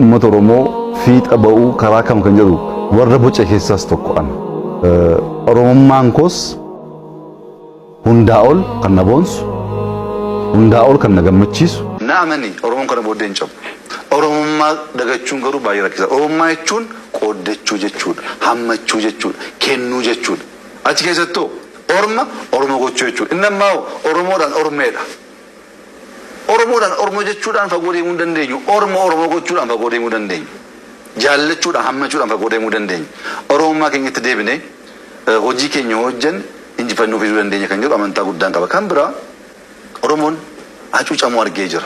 Uummata Oromoo fiixa ba'uu karaa kam kan jedhu warra boce keessaas tokko ana. Oromummaan koos hundaa ol kan na boonsu, hundaa ol kan na gammachiisu. Na amani Oromoon kana booddee hin cabu. Oromummaa dagachuun garuu baay'ee rakkisaa. Oromummaa jechuun qooddachuu jechuudha, hammachuu jechuudha, kennuu jechuudha. Achi keessattuu orma Oromoo gochuu jechuudha. Inni ammaa hoo Oromoodhaan ormeedha. Oromoodhaan Ormo jechuudhaan fagoo deemuu hin dandeenyu. Ormo Oromo gochuudhaan fagoo deemuu dandeenya. Jaallachuudhaan, hammachuudhaan fagoo deemuu dandeenya. Oromummaa keenyatti deebinee hojii keenya yoo hojjenne injifannoo fiduu dandeenya kan jedhu amantaa guddaan qaba. Kan biraa Oromoon hacuucamuu argee jira.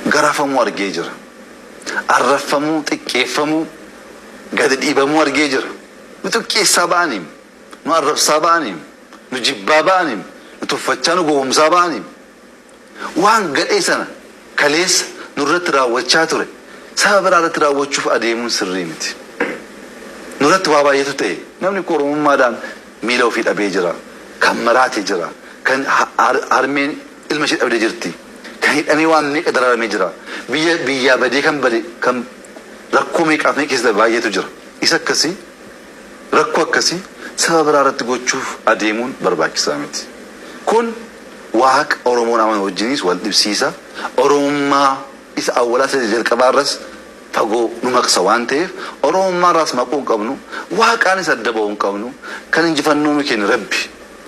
Garafamuu argee jira. Arrabfamuu, xiqqeeffamuu, gadi dhiibamuu argee jira. Nu xiqqeessaa ba'aniim. Nu arrabsaa ba'aniim. nu jibbaa ba'aniin, nu tuffachaa nu gowwomsaa ba'aniin, waan gadhee sana kaleessa nurratti raawwachaa ture saba biraa irratti raawwachuuf adeemuun sirrii miti. Nurratti waa baay'eetu ta'e. Namni koo Oromummaadhaan miila ofii dhabee jira, kan maraate jira, kan harmeen ilma ishee dhabde jirti, kan hidhamee waan meeqa dararamee jira, biyya biyyaa badee kan bade kan rakkoo meeqaaf meeqa keessa darbe baay'eetu jira. Isa akkasii. Rakkoo akkasii saba biraa irratti gochuuf adeemuun barbaachisaa miti. Kun Waaqa Oromoon amanu wajjiniis wal dhibsiisa, Oromummaa isa awwalaas ta'e isa jalqabaa irras fagoo nu maqsa waan ta'eef Oromummaa irraas maquu hin qabnu, Waaqaanis adda ba'uu hin qabnu. Kan injifannoo nu kenne Rabbi.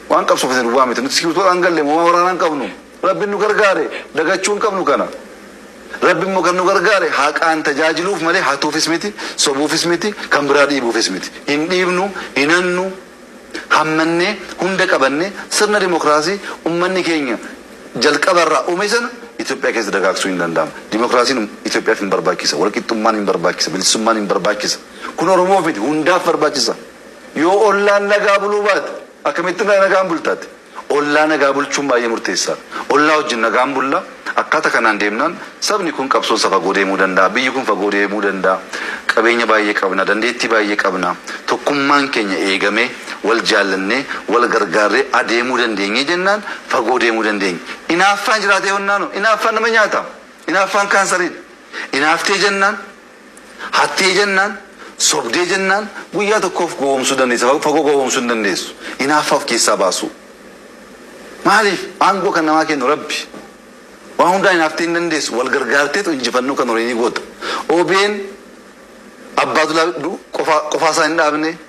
Waan qabsoofne duwwaa miti. Nuti sigiirtoodhaan galle moo waan waraanaa hin qabnu? Rabbin nu gargaare dagachuu hin qabnu kana. Rabbin immoo kan nu gargaare haqaan tajaajiluuf malee hatuufis miti, sobuufis miti, kan biraa dhiibuufis miti. Hin dhiibnu, hin hannu, hammannee, hunda qabannee sirna dimokraasii ummanni keenya jalqaba irraa ume sana Itoophiyaa keessa dagaagsuu hin danda'amu. Dimokraasiin Itoophiyaaf hin barbaachisa, walqixxummaan hin barbaachisa, bilisummaan hin barbaachisa. Kun Oromoof miti, hundaaf barbaachisa. Yoo ollaan nagaa buluu baate. Akkamitti nagaan bulta ati? Ollaa nagaa bulchuun baay'ee murteessaadha. Ollaa wajjin nagaan bulla, akkaata kanaan deemnaan sabni kun qabsoon isaa fagoo deemuu danda'a, biyyi kun fagoo deemuu danda'a, qabeenya baay'ee qabna, dandeettii baay'ee qabna, tokkummaan keenya eegamee, wal jaallannee, wal gargaarree adeemuu dandeenye jennaan fagoo deemuu dandeenya. Inaaffaan jiraatee honnaanoo? Inaaffaan nama nyaata. Inaaffaan kaansariidha. Inaaftee jennaan. Hattee jennaan, sobdee jennaan guyyaa tokkoof gowwoomsuu dandeessa, fagoo gowwoomsuu hin dandeessu. Hinaaffaa of keessaa baasuu. Maaliif? Aangoo kan namaa kennu Rabbi. Waan hundaa hinaaftee hin dandeessu. Wal gargaarteetu injifannoo kan horii ni goota. Obn Abbaadulaa qofaa isaa hin dhaabne.